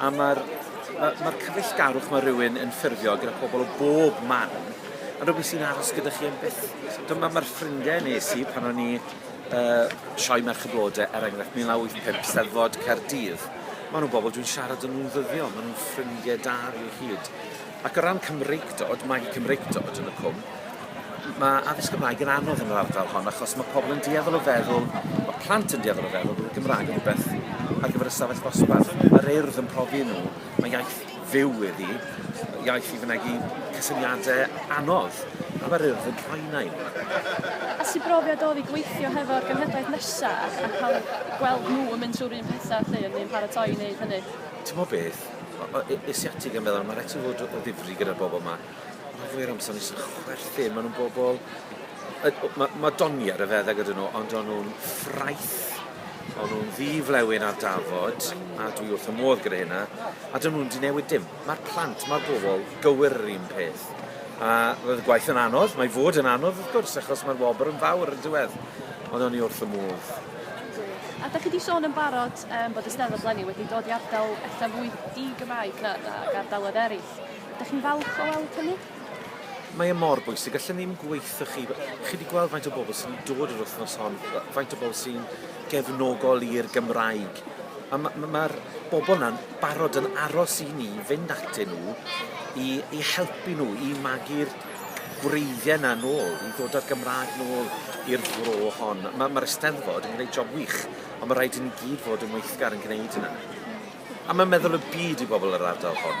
a mae'r ma' ma'r cyfeillgarwch ma' rywun yn ffurfio gyda pobl o bob man yn rwbeth sy'n aros gyda chi am byth. Dyma ma'r ffrindie nes i pan o'n i yy Sioe Merch y Blode er enghraifft 1985 Steddfod Caerdydd. Ma' nw bobl dwi'n siarad â nhw'n ddyddiol ma' nhw'n ffrindie da fi o hyd. Ac o ran Cymreictod, magu Cymreictod yn y Cwm, mae addysg Gymraeg yn anodd yn yr ardal hon achos mae pobl yn dueddol o feddwl, mae plant yn dueddol o feddwl bod y Gymraeg yn rhywbeth ar gyfer y stafell ddosbarth. Mae'r Urdd yn profi nhw, mae iaith fyw iddi, iaith i fynegi cysyniadau anodd, a mae'r Urdd yn rhoi yna i nhw. A sut brofiad oedd i gweithio hefo'r genhedlaeth nesaf a cael gweld nhw yn mynd trwy'r un pethau a chi, yn paratoi i wneud hynny? Timod beth? O- o- e- asiatig a meddwl ma' raid ti fod o- o ddifri gyda'r bobol 'ma. Rhan fwya o'r amser o'n i jys yn chwerthin ma' nw'n bobol yy o- ma' ma' doniad a fethe gyda nw ond o'n nw'n ffraeth o'n nw'n ddi flewyn ar dafod a dwi wrth fy modd gyda hynna a 'dyn nw'm 'di newid dim. Ma'r plant ma'r bobol gywir yr un peth. A roedd y gwaith yn anodd mae fod yn anodd wrth gwrs achos ma'r wobr yn fawr on'd yw e? Ond o'n i wrth fy modd. Gwych. A 'dach chi 'di sôn yn barod Yym bod y Steddfod leni wedi dod i ardal ella fwy di-Gymraeg na na ag ardaloedd eraill. Ydych chi'n falch o weld hynny? Mae e mor bwysig, allwn ni ddim gweithio chi. Chi wedi gweld faint o bobl sy'n dod yr wythnos hon, faint o bobl sy'n gefnogol i'r Gymraeg. A mae'r ma, ma bobl yna'n barod yn aros i ni fynd atyn nhw i, i helpu nhw i magu'r gwreiddiau yna nôl, i ddod â'r Gymraeg nôl i'r fro hon. Mae'r ma Eisteddfod yn gwneud job wych. Ond mae rhaid i ni gyd fod yn weithgar yn gwneud hynna. A mae'n meddwl y byd i bobl yr ardal hon.